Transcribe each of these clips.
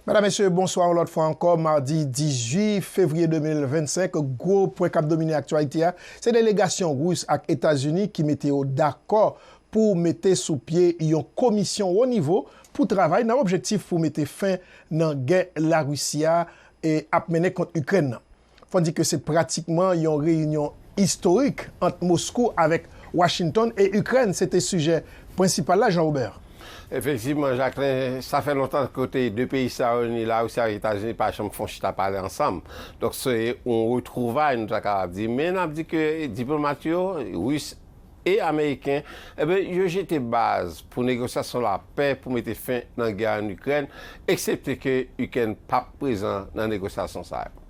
Medam mesye bonswa yon lòt fwa ankò madi 18 fevriye 2025 gwo pwen kap domine aktyalite a se delegasyon Ris ak Etazini ki mete yo dakò pou mete sou pye yon komisyon wo nivo pou travay nan objektif pou mete fen nan gè Larisi a ap mennen kont Ikrèn nan. Fò di ke se pratikman yon reyinyon istorik ant Moskou avèk Washington e Ikrèn se te sijè prensipal la, Jean Robert. Efektivman, Jacquelin, sa fè lontan kote 2 peyi sa yo, ni Larisi ak Etazini pa janm fon chita pale ansanm. Donk se yon retwouvay nou ta kapab di. Men n ap di ke diplomat yo, Ris E ameriken? Enben, yo jete baz pou negosyasyon lapè pou mete fen nan gè a ann Ikrèn, eksepte ke Ikrèn p ap prezan nan negosyasyon sa yo.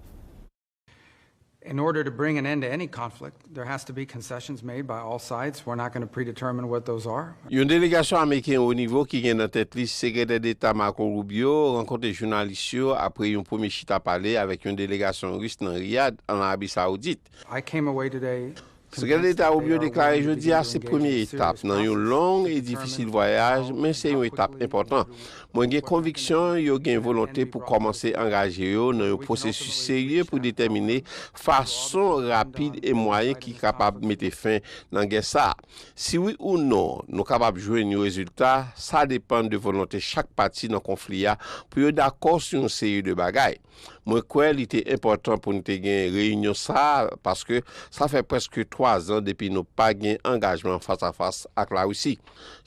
In order to bring an end to any conflict, there has to be concessions made by all sides. We're not going to predetermine what those are. Yon delegasyon ameriken wo nivo ki gen nan tèt li Sekretè Deta Marco Rubio rankontre jounalis yo apre yon premye chita pale avèk yon delegasyon ris nan Riyad, ann Arabi Sawoudit. I came away today Sekrè Deta Rubio deklare jodi a se premye etap nan yon long e difisil vwayaj men se yon etap enpòtan. Mwen gen konviksyon yo gen volonte pou kòmanse angaje yo nan yon pwosesis serye pou detèmine fason rapid e mwayen ki kapab mete fen nan gè sa a. Si wi ou non nou kapab jwenn yon rezilta, sa depann de volonte chak pati nan konfli a pou yo dakò sou yon seri de bagay. Mwen kwè li te enpòtan pou n te gen reyinyon sa a paske sa fè prèske twazan depi nou pa gen angajman fas a fas ak Larisi.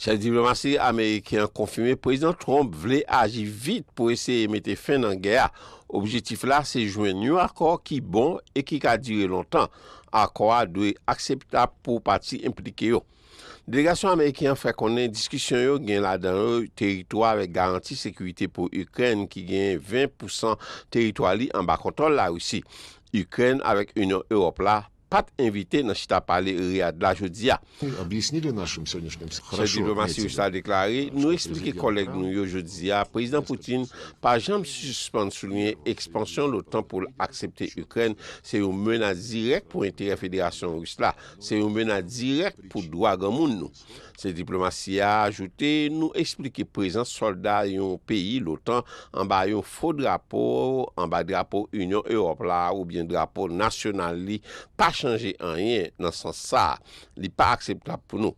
Chèf diplomasi ameriken an konfime Prezidan Trump vle aji vit pou eseye mete fen nan gè a. Objetif la se jwenn yon akò ki bon e ki ka dire lontan. Akò a dwe akseptab pou pati enplike yo. Delegasyon ameriken an fè konnen diskisyon yo gen ladan yo teritwa avèk garanti sekirite pou Ikrèn ki gen 20 pousan teritwa li anba kontwòl Larisi. Ikrèn avèk Inyon Ewòp la pat envite nan chita pale Riyad la jodi a. Chèf diplomasi ris la deklare, Nou eksplike kòlèg nou yo jodi a Prezidan Putin pa janm sispann souliye ekspansyon l'OTAN pou l aksepte Ikrèn se yon menas dirèk pou enterè Federasyon Ris la. Se yon menas dirèk pou dwa granmoun nou, se diplomasi a ajoute nou esplike prezans sòlda yon peyi lotan anba yon fo drapo, anba drapo Inyon Ewòp la oubyen drapo nasyonal li pa chanje anyen nan sans sa a, li pa akseptab pou nou.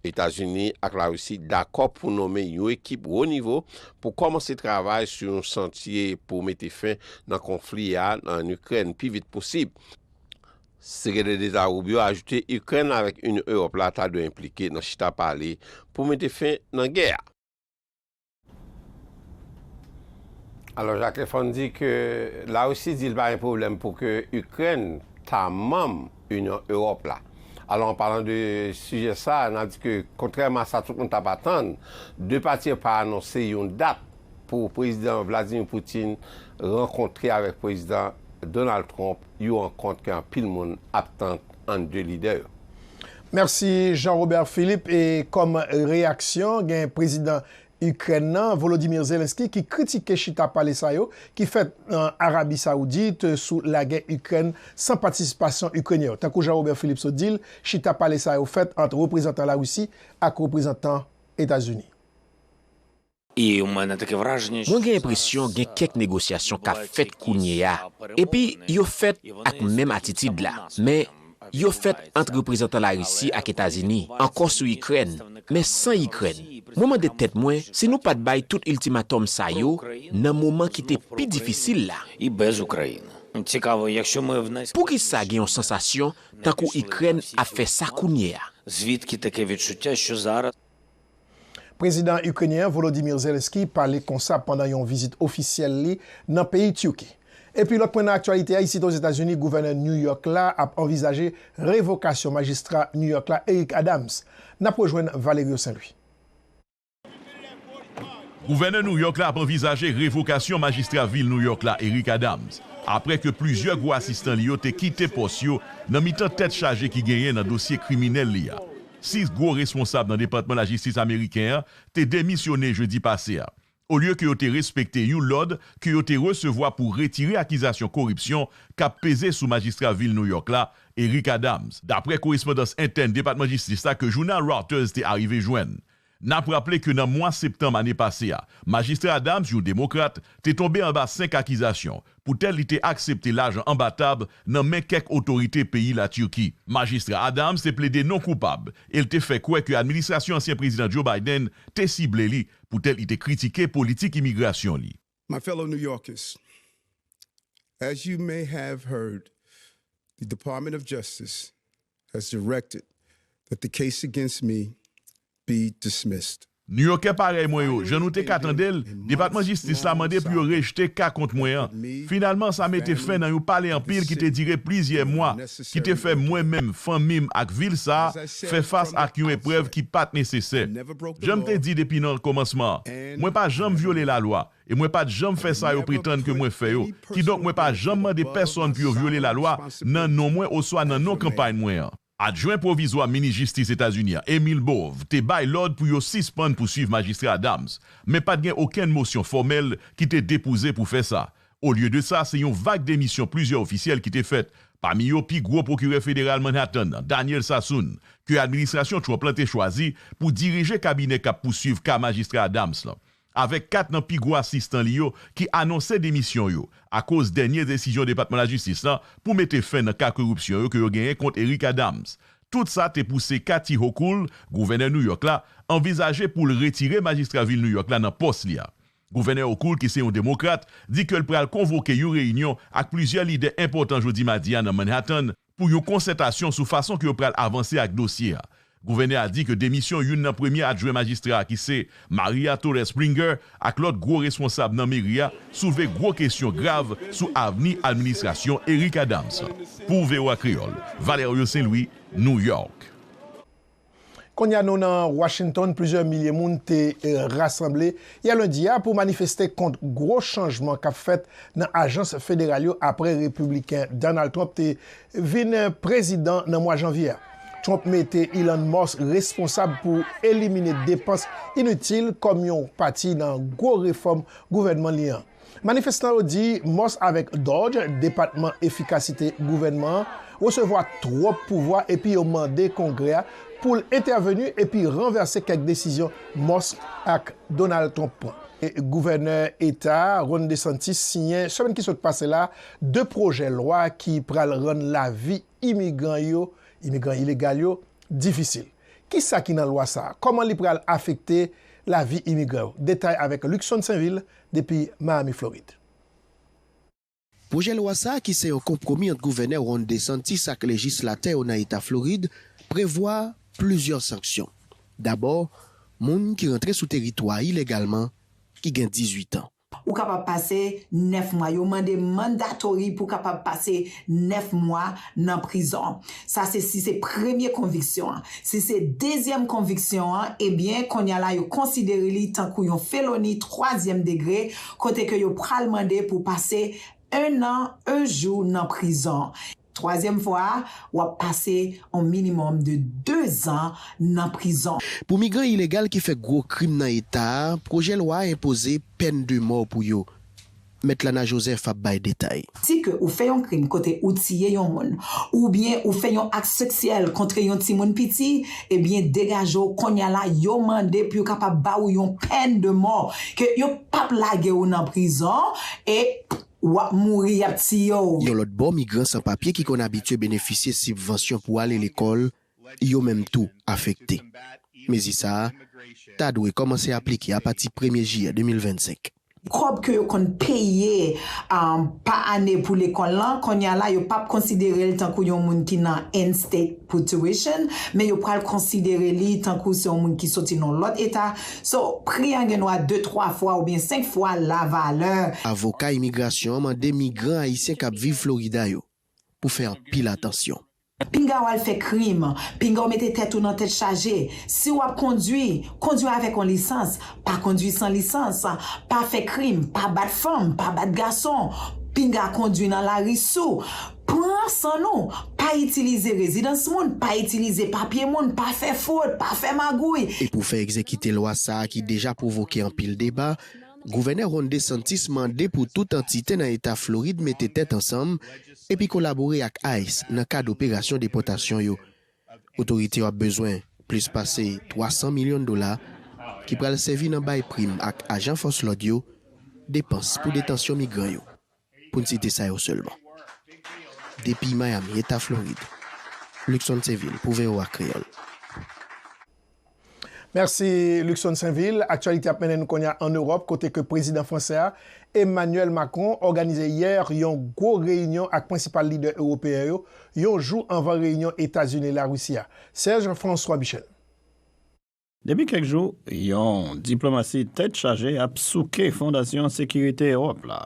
Etazini ak Larisi dakò pou nome yon ekip wo nivo pou kòmanse travay sou yon chantye pou mete fen nan konfli a an Ikrèn pi vit posib. Sekretè Deta Rubio ajoute Ikrèn avèk Inyon Ewòp la ta dwe enplike nan chita pale pou mete fen nan gè a. Alò Jacques Lefon di ke La Russie di li pa gen pwoblèm pou ke Ikrèn ta manm Inyon Ewòp la. Alò an palan de sijè sa, na di ke kontrèman a sa tout moun tap atann, 2 pati yo pa anonse yon dat pou Prezidan Vladimir Putin rankontre avèk Prezidan Donald Trump you rankont ke anpil moun ap tann ant 2 lidè yo. Mèsi Jean Robert Philippe e kòm reyaksyon gen prezidan Ikrèn nan Volodymyr Zelensky ki kritike chita pale sa yo ki fèt nan Arabi Saoudit sou lagè Ikrèn san patisipasyon Ikrenyen yo. Tankou Jean Robert Philippe sot di l, chita pale sa yo fèt ant reprezantan Larisi ak reprezantan Etazini. Mwen gen enpresyon gen kèk negosyasyon k ap fèt kounye a, epi yo fèt ak menm atitid la, men yo fèt ant reprezantan Larisi ak Etazini, ankò sou Ikrèn, men san Ikrèn. Mwen mande tèt mwen si nou pa t bay tout iltimatòm sa yo nan moman ki te pi difisil la. Poukisa gen yon sansasyon tankou Ikrèn ap fè sa kounye a? Prezidan Ikrenyen an, Volodymyr Zelenskyy, pale konsa pandan yon vizit ofisyèl li nan peyi Turki. Epi lòt pwen nan aktyalite a, isit Ozetazini, Gouvènè New York la ap anvizaje revokasyon majistra New York la, Eric Adams. N ap rejwenn Valerio Saint-Louis. Gouvènè New York la ap anvizaje revokasyon majistra vil New York la, Eric Adams, apre ke plizyè gwo asistan li yo te kite pòs yo nan mitan tèt chaje ki genyen nan dosye kriminèl li a. Sis gwo responsab nan Depatman Lajistis ameriken an te demisyone jedi pase a, olye ke yo te respekte yon lòd ke yo te resevwa pou retire akizasyon koripsyon k ap peze sou majistra vil New York la, Eric Adams. Dapre korespondans entèn Depatman Jistis la ke jounal Reuters te arive jwenn, N ap raple ke nan mwa septanm ane pase a, Majistra Adams, yon Demokrat, te tonbe anba 5 akizasyon poutèt li te aksepte lajan anba tab nan men kèk otorite peyi Latirki. Majistra Adams te plede non koupab e l te fè kwè ke administrasyon ansyen Prezidan Joe Biden te sible li poutèt li te kritike politik imigrasyon li. My fellow New Yorkers, As you may have heard, the Department of Justice has directed that the case against me be dismissed. Nouyòkè parèy mwen yo, jan nou te ka tande l, Depatman Jistis la mande pou yo rejte ka kont mwen an. Finalman, sa mete fen nan yon pale anpil ki te dire plizyè mwa. ki te fè mwen menm, fanmi m ak vil sa a fè fas ak yon eprèv ki pa t nesesè. Jan m te di depi nan kòmansman an, mwen pa janm vyole lalwa e mwen pa t janm fè sa yo pretann ke mwen fè yo, kidonk mwen pa janm mande pèsonn pou yo vyole lalwa nan non mwen oswa nan non kanpay mwen an. Adjwen Pwovizwa Minis Jistis Etazini an, Emil Bove, te bay lòd pou yo sispann pouswiv Majistra Adams, men pa t gen okenn mosyon fòmèl ki te depouze pou fè sa, Olye de sa, se yon vag demisyon plizyè ofisyèl ki te fèt, pami yo pi gwo pwokirè federal Manhattan nan, Daniel Sassoon, ke administrasyon Trump lan te chwazi pou dirije kabinè k ap pousuiv ka Majistra Adams lan, avèk kat nan pi gwo asistan li yo ki anonse demisyon yo akoz dènye desizyon Depatman Lajistis lan pou mete fen nan ka koripsyon yo ke yo genyen kont Eric Adams. Tout sa te pouse Kathy Hochul, gouvènè New York la, anvizaje pou l retire majistra vil New York la nan pòs li a. Gouvènè Hochul ki se yon Demokrat di ke l pral konvoke yon reyinyon ak plizyè lidè enpòtan jodi madi a nan Manhattan pou yon konsètasyon sou fason ke yo pral avanse ak dosye a. Gouvènè a di ke demisyon youn nan premye adjwen majistra a ki se Maria Torres Springer ak lòt gwo responsab nan meri a soulve gwo kesyon grav sou avni administrasyon Eric Adams la. Pou voa Kreyòl, Valerio Saint-Louis, New York. Kounya nou nan Washington, plizyè milye moun te rasanble yè lendi a pou manifeste kont gwo chanjman k ap fèt nan ajans federal yo apre repibliken Donald Trump te vin prezidan nan mwa janvye a. Trump mete Elon Musk responsab pou elimine depans initil kòm yon pati nan gwo refòm gouvènman li an. Manifestan yo di Moss avèk Dodge, Depatman Efikasite gouvènman an, resevwa twòp pouvwa epi yo mande Kongrè a pou l entèveni epi ranvèse kèk desizyon Moss ak Donald Trump pran. Gouvènè Eta a, Ron DeSantis, siyen semèn ki sot pase la de pwojè lwa ki pral rann lavi imigran yo, imigran ilegal yo, difisil. Ki sa ki nan lwa sa a? Kòman li pral afekte lavi imigran yo? Detay avèk Luckson Sainvil depi Miami Florid. Pwojè lwa sa a ki se yon konpwomi ant Gouvènè Ron DeSantis ak lejislatè yo nan eta Florid prevwa plizyè sanksyon. Dabò, moun ki rantre sou teritwa a ilegalman ki gen 18 an. Ou kapab pase 9 mwa. Yo mande mandatory pou kapab pase 9 mwa nan prizon. Sa se si se premye konviksyon an. Si se dezyèm konviksyon an, ebyen konnya la yo konsidere li tankou yon feloni twazyèm degre kote ke yo pral mande pou w pase 1 an 1 jou nan prizon. Twazyèm fwa a, w ap pase on minimòm de 2 zan nan prizon. Pou migran ilegal ki fè gwo krim nan eta a, pwojè lwa a enpoze pèn de mò pou yo. Mèt Lana Joseph ap bay detay. Di ke ou fè yon krim kote ou tiye yon moun, oubyen ou fè yon ak seksyèl kontre yon timoun piti, ebyen degaje w konnya la yo mande pou yo kapab ba ou yon pèn de mò, ke yo pap lage ou nan prizon e wap mouri yap tiye w. Yon lòt bò migran san papye ki konn abitye benefisye sibvansyon pou ale lekòl yo menm tou afekte. Mezi sa a ta dwe kòmanse aplike apati premye jiyè 2025. Kòb ke yo konn peye pa ane pou lekòl lan, kounye a la yo pap konsidere l tankou yon moun ki nan in-state pou tuition, men yo pral konsidere li tankou se yon moun ki soti nan yon lòt eta, so pri an gen dwa de twa fwa oubyen senk fwa la valè. Avoka imigrasyon an mande migran ayisyen k ap viv Florida yo pou fè anpil atansyon. Pinga w al fè krim, pinga w mete tèt ou nan tèt chaje. Si w ap kondwi, kondwi avèk yon lisans, pa kondwi san lisans. Pa fè krim, pa bat fanm, pa bat gason. Pinga kondwi nan lari sou. Pran san nou. Pa itilize rezidans moun, pa itilize papye moun, pa fè fwod, pa fè magouy. E pou fè egzekite lwa sa a ki deja pwovoke anpil deba, Gouvènè Ron DeSantis mande pou tout antite nan eta Florid mete tèt ansanm, epi kolabore ak ice nan kad operasyon depòtasyon yo. Otorite yo ap bezwen plis pase 300 milyon dola ki pral sèvi nan bay prim ak ajan fòs lòd yo, depans pou detansyon migran yo, pou n site sa yo sèlman. Depi Miami, Eta Florid, Luckson Thévil pou voa Kreyòl. Mèsi Luckson Sainvil. Aktyalite ap mennen nou konnya an Ewòp kote ke prezidan fransè a, Emmanuel Macron òganize yè yon gwo reyinyon ak prensipal lidè ewopeyen yo, yon jou anvan reyinyon Etazini-Larisi a. Serge François Michel. Depi kèk jou, yon diplomasi tèt chaje ap souke Fondasyon Sekirite Ewòp la.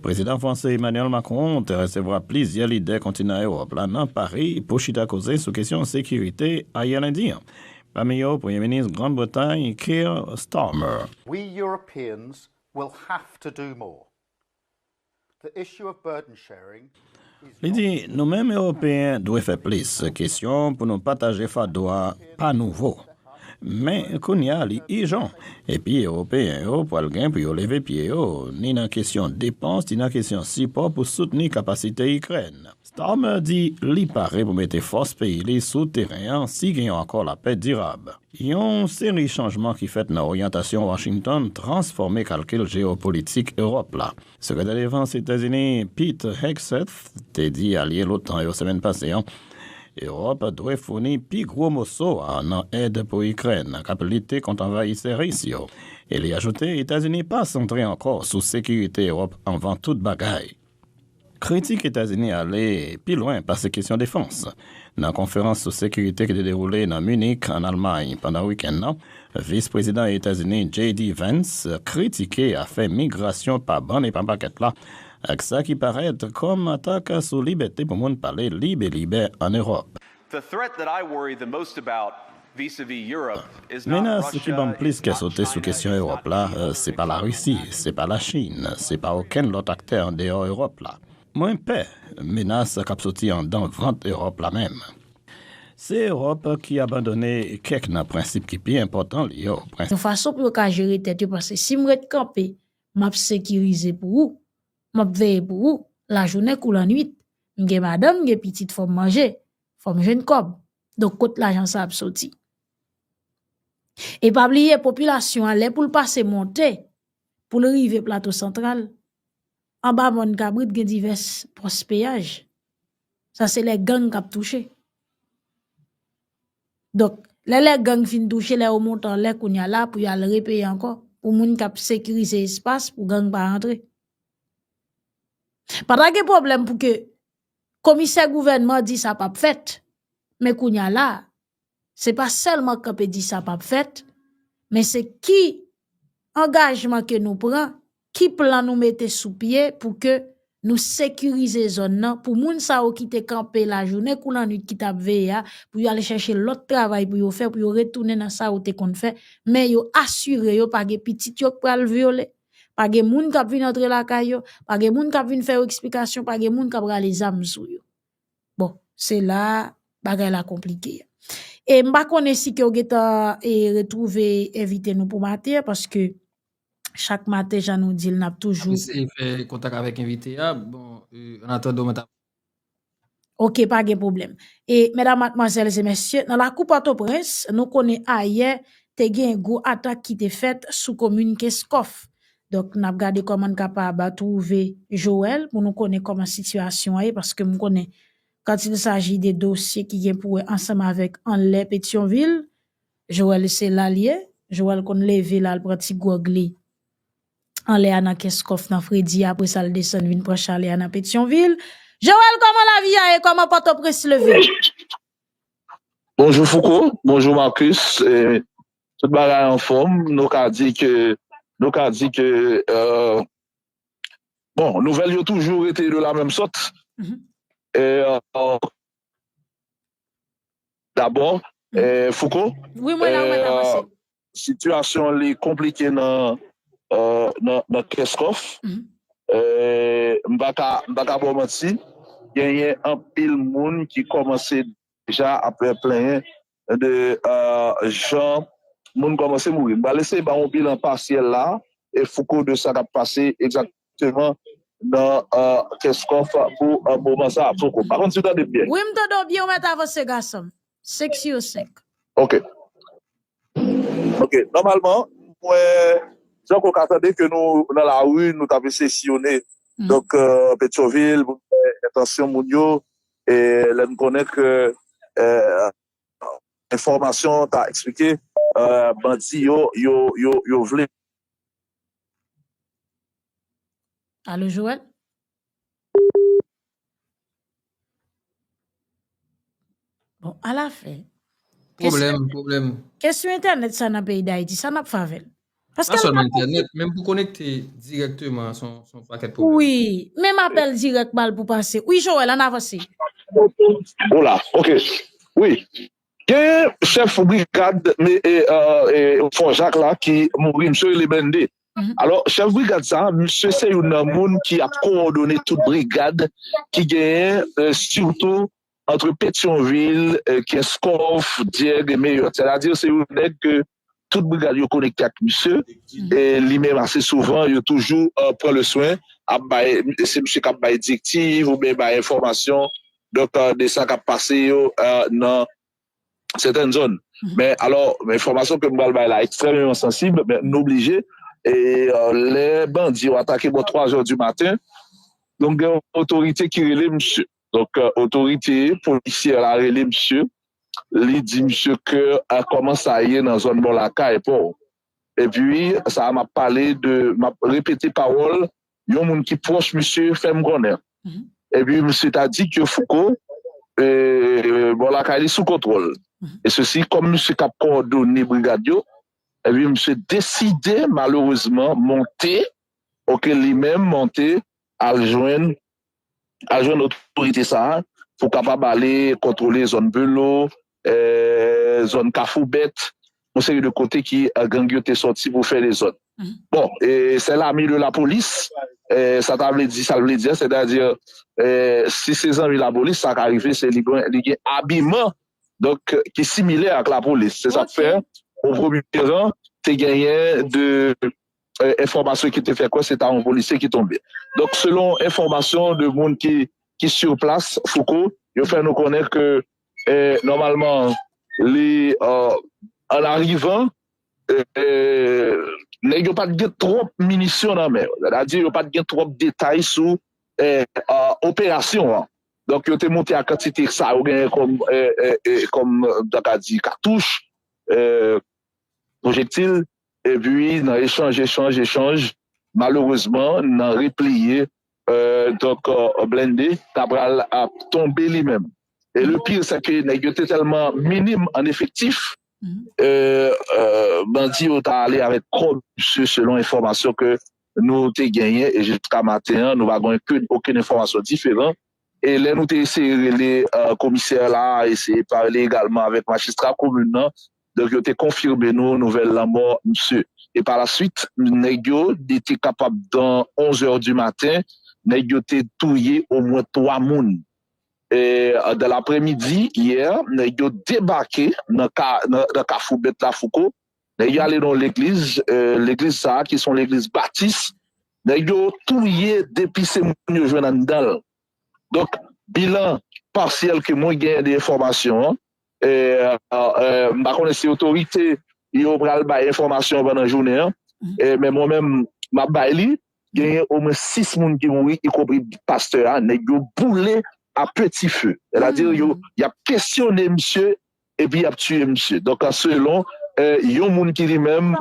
Prezidan franse Emmanuel Macron te resevwa plizyè lidè kontinan Ewòp la nan Pari pou chita koze sou kesyon sekirite ayè lendi an, pami yo Premye Minis Grand Bretay Keir Starmer. We Europeans will have to do more. The issue of burden sharing Li di, Nou menm Ewopeyen dwe fè plis. Kesyon pou nou pataje fado a pa nouvo. Men, kounye a li ijan. Epi Ewopeyen yo pral gen pou yo leve pye yo, ni nan kesyon depans ni nan kesyon sipò pou soutni kapasite Ikrèn. Starmer di li pare pou mete fòs peyi li sou teren an si gen yon akò lapè dirab. Yon seri chanjman ki fèt nan oryantasyon Washington transfòme kalkil jeyopolitik Ewòp la. Sekretè Defans Etazini Pete Hegseth te di alye l'OTAN yo semèn pase an Ewòp dwe founi pi gwo moso a nan èd pou Ikrèn k ap lite kont anvayisè Ris yo e li ajoute Etazini pa santre ankò sou sekirite Ewòp anvan tout bagay. Kritik Etazini ale pi lwen pase kesyon defans. Nan konferans sou sekirite ki te dewoule nan Munich, an Almay, pandan wikenn nan, Vis Prezidan Etazini JD Vance kritike afè migrasyon pa bann e pa pakèt la ak sa ki parèt kòm atak sou libète pou moun pale lib e libè ann Ewòp. Menas ki ban m plis kè sote sou kesyon Ewòp la, se pa Larisi, se pa Lachin, se pa okenn lòt aktè andeyò Ewòp la. Mwen pè menas kap soti andan vant Europe la menm. Se Europe ki abandone kèk nan prensip ki pi enpòtan li yo, prensip. Yon fason pou yo ka jere tèt yo paske si m ret kanpe map sekirize pou ou, map veye pou ou lajounen kou lannuit, m gen madanm m gen pitit fòm manje, fòm jwenn kòb, donk kot lajan sa ap soti. E pa bliye popilasyon an lè poul pase monte poul rive plato santral Anba mòn kabrit gen divès pòs peyaj. Sa se lè gang k ap touche. Donk, lè lè gang fin touche, lè yo monte anlè kounye a la pou y al repeye ankò pou moun k ap sekirize espas pou gang pa antre. Pa ta gen pwoblèm pou ke komisè gouvènman di sa p ap fèt. Men kounye a la, Se pa sèlman kanpe di sa pap fèt, men se ki angajman ke nou pran, ki plan nou mete sou pye pou ke nou sekirize zòn nan, pou moun sa yo ki te kanpe lajounen kou lannwit ki tap veye a, pou yo ale chache lòt travay pou yo fè, pou yo retounen nan sa yo te konn fè, men yo asire yo pa gen pitit yo k pral vyole, pa gen moun kap vin antre lakay yo, pa gen moun kap vin fè yo eksplikasyon, pa gen moun kap rale zam sou yo. Bon, se la bagay la konplike. E m pa konnen si ke ou gen tan e retrouve envite nou pou maten an, paske chak maten jan nou di l n ap toujou. Mwen eseye fè kontak avèk envite a, bon, an atandan mwen ta. Ok, pa gen pwoblèm. E medam matmwazèl e mesye, nan lakou Pòtoprens, nou konnen ayè te gen gwo atak ki te fèt sou komin Kenskòf. Donk nap gade kòman n kapab twouve Joel pou nou konnen kòman sitiyasyon an ye paske m konnen kant il saji de dosye ki gen pou wè ansanm avèk anlè Petyonvil, Joel se la l ye, Joel konn leve l al pran ti gwòg li anlè a nan kès kòf nan fredi a apresa l desann vin pran chalè a nan Petyonvil. Joel kòman lavi a ye, kòman Pòtoprens leve? Bonjou Fouco, bonjou Marcus. Tout bagay anfòm, nou ka di ke, nou ka di ke, bon, nouvèl yo toujou rete de la menm sòt, e, dabò, Fouco, sitiyasyon li konplike nan, nan Kenscoff, e, m pa ka, m pa ka ba w manti, genyen anpil moun ki kòmanse deja ap plenyen de jan moun kòmanse mouri. M pral eseye ba w yon bilan pasyèl la, e Fouco, de sa k ap pase egzakteman nan Kenscoff pou moman sa a. Fouco, m pa konn si w tande m byen. Wi, m tande w byen, ou mèt avanse gason m. Seksyon 5. Ok. Ok, nòmalman, mwen, jan ke w ka tande ke nou nan lari, nou t ap eseye siyone donk Petyonvil pou n wè entansyon moun yo, E lè n konnen ke enfòmasyon an ta eksplike bandi yo, yo vle. Alo Joel? Bon, ala fè. Pwoblèm, pwoblèm. Kesyon entènèt sa nan peyi Dayiti, sa n ap fè avè l? Paske pa sèlman entènèt, menm pou konekte direkteman son pakèt pwoblèm. Wi, menm apèl dirèk mal pou pase. Wi Joel, ann avanse. Hola, ok, wi. Genyen chèf brigad Fò Jak la ki mouri, misye rele Mende. Alò, chèf brigad sa, misye se youn nan moun ki ap kowòdone tout brigad ki genyen sitou antre Petyonvil, Kenskòf, Dyèg e Meyòt. Sètadi se youn nèg ke tout brigad yo konekte ak misye e li menm ase souvan yo toujou pran le swen ap bay se misye kap bay direktiv ou byen bay enfòmasyon donk de sa kap pase yo nan sèten zòn men alò enfòmasyon ke m pral bay la ekstrèmeman sansib men nou blije e lè bandi yo atake bò 3 zò di maten donk gen yon otorite ki rele misye. Donk otorite polisyè la rele misye, li di misye ke kòman sa ye nan zòn bò lakay paw. Epi sa a map pale de, map repete pawòl yon moun ki pwòch misye fèm konnen. Epi misye ta di ke Fouco bò lakay li sou kontwòl. E sesi kòm misye kap kowòdone brigad yo, epi misye deside malerezman monte, ok, li menm monte al jwenn al jwenn otorite sa a pou kapab ale kontwole zòn Belo, zòn Kafou Bèt, yon seri de kote ki gang yo te sòti pou fè dezòd. Bon, sè lame de lapolis, sa ta vle di sa l vle di a, sètadi si se zanmi lapolis sa ka rive se li gen abiman donk ki similè ak lapolis. Se sa k fè o premye ran te genyen 2 enfòmasyon ki te fè kwè se ta yon polisye ki tonbe. Donk selon enfòmasyon de moun ki ki sur plas, Fouco, yo fè nou konnen ke nòmalman li an arivan nèg yo pat gen twòp minisyon nan men yo. Sètadi yo pat gen twòp detay sou operasyon an. Donk yo te moute ak kantite sa yo genyen kòm kòm nou ta ka di katouch, pwojektil, Epi nan echanj, echanj, echanj, malerezman nan repliye, donk Blende ta pral ap tonbe li menm. E le pire se ke nèg yo te tèlman minim an efektif, bandi yo ta ale avèk kò misye selon enfòmasyon ke nou te genyen e jiska maten an nou pa gen okenn enfòmasyon diferan E lè nou te eseye rele komisè la, eseye pale egalman avèk majistra komin nan, donk yo te konfime nou nouvèl lanmò misye. E pa la swit, nèg yo, li te kapab dan onzè di maten, nèg yo te touye omwen twa moun. E dan lapremidi, yè, nèg yo debake nan kafou Bèt Lafouko, Nèg yo ale nan yon legliz, legliz sa ki se yon legliz batis, nèg yo touye 2 pise moun yo jwenn anndan l. Donk bilan pasyèl ke mwen genyen de enfòmasyon an, m pa konnen si otorite yo pral bay enfòmasyon an pandan jounen an, men mwen menm m ap bay li, genyen omwen 6 moun ki mouri ikonpri pastè a, nèg yo boule a peti fe. Sètadi yo y ap kesyone misye Epi yap tiye misye. Donk a selon yon moun ki li menm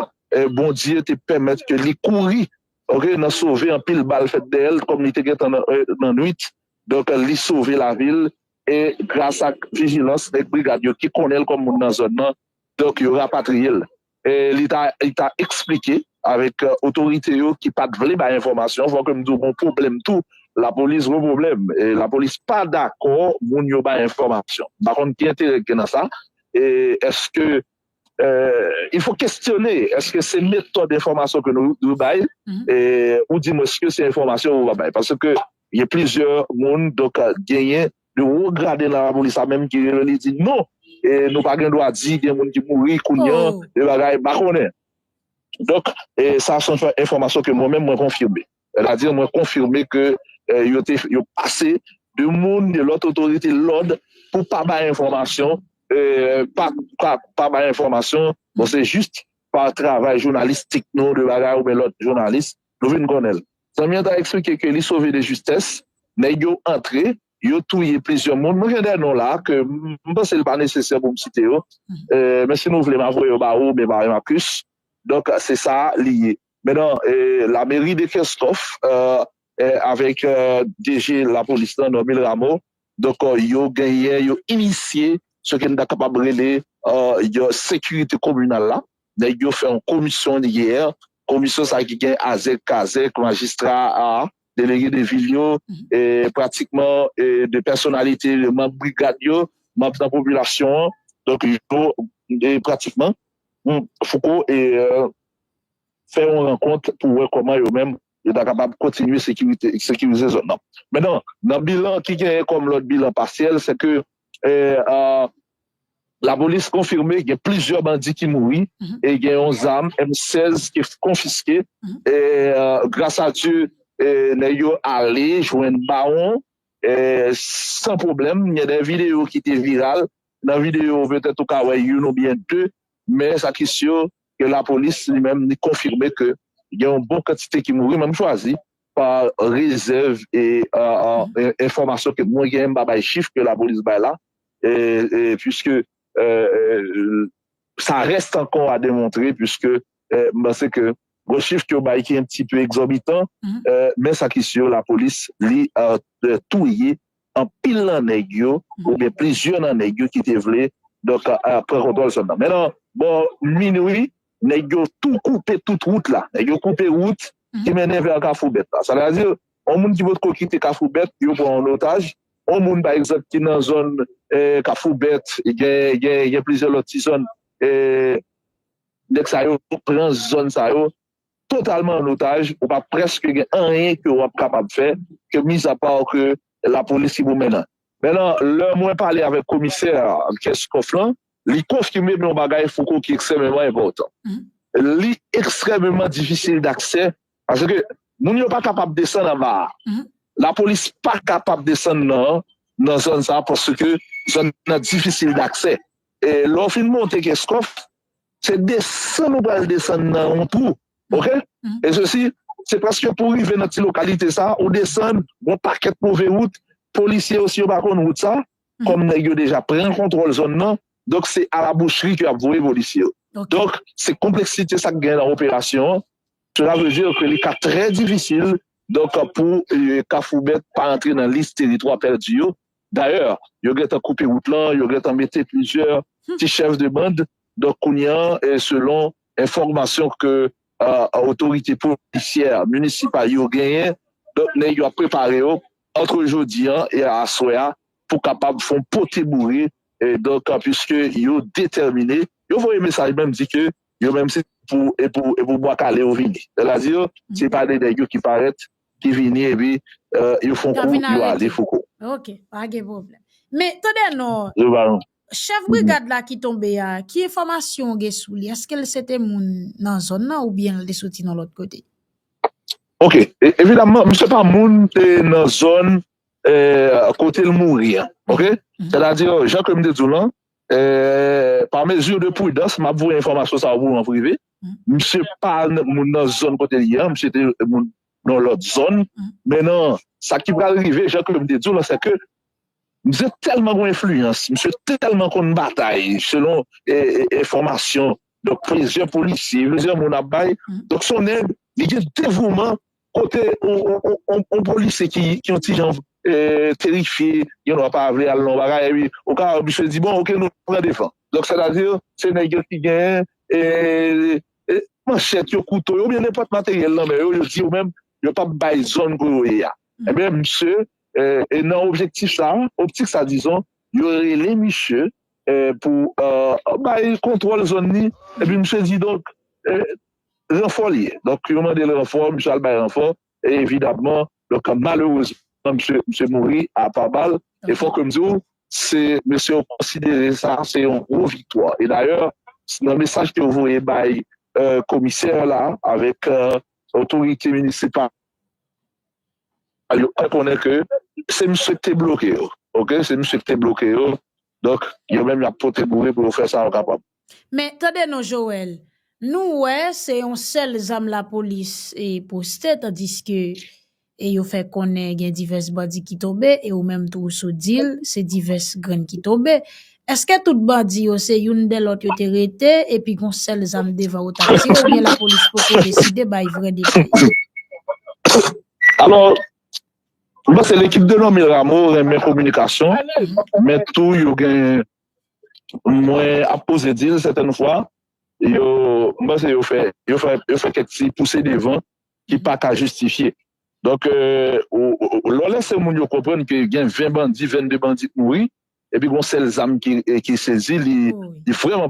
Bondye te pèmèt ke li kouri ok nan sove anpil bal fèt dèyè l kòm li te gentan nan nwit donk li sove lavi l e gras ak vijilans nèg brigad yo ki konnen l kòm moun nan zòn nan donk yo rapatriye l. Li ta eksplike avèk otorite yo ki pat vle bay enfòmasyon. Fò ke m di w gon pwoblèm tou, lapolis gwo pwoblèm. Lapolis pa dakò moun yo bay enfòmasyon. M pa konn ki enterè ki gen nan sa. Eske, il fo kestyone, eske se metòd enfòmasyon ke nou dwe bay oudimwens ke se enfòmasyon ou va bay? Paske gen plizyè moun, donk genyen De wo grade nan lapolis la menm ki rele li di non e nou pa gen dwa di gen moun ki mouri kounya e bagay pa konnen. Donk e sa son enfòmasyon ke mwen menm mwen konfime. Sètadi mwen konfime ke yo te yo pase de moun de lòt otorite lòd pou pa bay enfòmasyon e pa pa bay enfòmasyon bon se jis pa travay jounalistik nou de bagay oubyen lòt jounalis Nou vin konnen l. Zanmi an ta eksplike ke li sove de jistès, nèg yo antre, yo touye plizyè moun. Mwen gen de non la ke m panse li pa nesesè pou m site yo. Men si nou vle m a voye yo ba ou oubyen ba Marcus. Donk se sa li ye. Menan la mairie de Kenskòf avèk DG lapolis lan Normil Rameau Donk yo genyen, yo inisye sa ke nou ta kapab rele yon sekirite kominal la. Nèg yo fè yon komisyon yè, komisyon sa ki gen azèk, kazèk, majistra a, delege de vil yo, pratikman de pèsonalite, manm brigad yo, manm nan popilasyon an. Donk yo pratikman, Fouco fè yon rankont pou wè kòman yo menm yo ta kapab kontinye sekirize zòn nan. Men nan bilan ki genyen kòm lòt bilan pasyèl se ke lapolis konfime gen plizyè bandi ki mouri e gen yon zam M 16 ki konfiske e gras a Dye nèg yo ale jwenn bawon san pwoblèm. Gen de videyo ki te viral, nan videyo petèt ou ka wè youn oubyen de men sa ki si yo ke lapolis li menm li konfime ke gen yon bon kantite ki mouri men m chwazi pa rezèv e enfòmasyon ke mwen genyen m pa bay chif ke lapolis bay la puiske sa rèst ankò a demontre puiske m panse ke gwo chif ke yo bay ki enptipe egzòbitan men sa ki si yo lapolis li touye anpil nan nèg yo oubyen plizyè nan nèg yo ki te vle donk pran kontwòl zòn nan men nan bò minwi nèg yo tou koupe tout wout la nèg yo koupe wout ki mennen vè kafoubèt la sa vle di yon moun ki potko kite kafoubèt yo pran an otaj yon moun pa egzanp ki nan zòn kafoubèt gen plizyè lòt ti zòn nèg sa yo pran zòn sa yo. totalman an otaj, ou pa prèske gen anyen ke wap kapab fè ke mizapa ke lapolis ki pou mennan. Mennan lè mwen pale avèk komisè Kenscoff lan, li konfime yon bagay Fouco ki ekstrèmeman enpòtan. Li ekstrèmeman difisil daksè paske moun yo pa kapab desann anba a. Lapolis pa kapab desann nan zòn sa paske zòn nan difisil daksè. Lè w fin monte Kenscoff, Se desann ou pral desann nan yon twou ok e sesi se paske pou rive nan ti lokalite sa ou desann yon pakèt move wout polisye yo si yo pa konn wout sa kòm nèg yo deja pran kontwòl zòn nan donk se a la boucherie ke y ap voye polisye yo donk se konpleksite sa k gen nan operasyon an sela vle di ke li ka trè difisil donk pou Kafoubèt pa antre nan lis teritwa pèdi yo Dayè, yo gentan koupe wout lan, yo gentan mete plizyè ti chèf de band, donk kounye an, selon enfòmasyon ke otorite polisyè minisipal yo genyen, donk nèg yo ap prepare yo antre jodi an e aswè a pou kapab fè yon pote boure, donk puiske yo detèmine, yo voye mesaj menm di ke yo menm se pou bwa kale yo vini, sètadi se pa de nèg yo ki parèt Ki vini epi yo fon kou yo ale fouco. Ok pa gen problem. Men tande non chef brigad la ki tonbe a ki enfomasyon ou gen sou li eske l se te moun nan zon nan ou byen l te soti nan lot kote. Ok evidaman misye pa moun nan zon kote l mouri an ok se ta di jan ke m te di w lan pa mezi de pridans map voye enfomasyon sa pou ou an prive. Misye pa moun nan zòn kote li ye an, misye te moun nan lòt zòn. Men nan sa ki pral rive, jan ke m te di w lan, se ke misye tèlman gen enfliyans, misye tèlman konn batay, selon enfòmasyon donk plizyè polisye, plizyè moun ap bay, donk se yon nèg li gen devouman Kote yon polisye ki yon ti jan terifye, yon nwa pa vle al nan yon bagay epi ou ka wè misye di bon ok nou pran devan. Donk sètadi se nèg yo ki gen manchèt yo, kouto yo oubyen nenpòt materyèl nan men yo, yo di yo menm yo p ap bay zòn pou yo ye a. Enben misye nan objektif sa, optik sa dizon, yo rele misye pou bay kontwòl zòn ni epi misye di donk Ranfò li ye. Donk yo mande l ranfò, misye al bay ranfò e evidamman donk malerezman misye mouri a pa bal e fò ke m di w se mesye yo konsidere sa se yon gwo viktwa e dayè nan mesaj ke yo voye bay komisè la avèk otorite minisipal yo fè konnen ke se misye ki te bloke yo ok se misye ki te bloke yo Donk, yo menm y ap pote boure pou yo fè sa yo kapab. Men, tande non Joel, nou wè se yon sèl zam lapolis poste tandiske yo fè konnen gen divès bandi ki tonbe e ou menm tou ou sot di l se divès grenn ki tonbe. Eske tout bandi yo se youn dè lòt yo te rete epi gon sèl zam devan ou t ap tire oubyen lapolis poko deside bay vrè detay? Alò, Mwen se lekip de Lomil Ramo renmen kominikasyon men tou yo gen mwen ap poze dil sèten fwa yo mwen se yo fè yo fè kèk ti pouse devan ki pa ka jistifye donk lò lese moun yo konprann ke gen 20 bandi 22 bandi mouri epi gon sèl zam ki sezi li vreman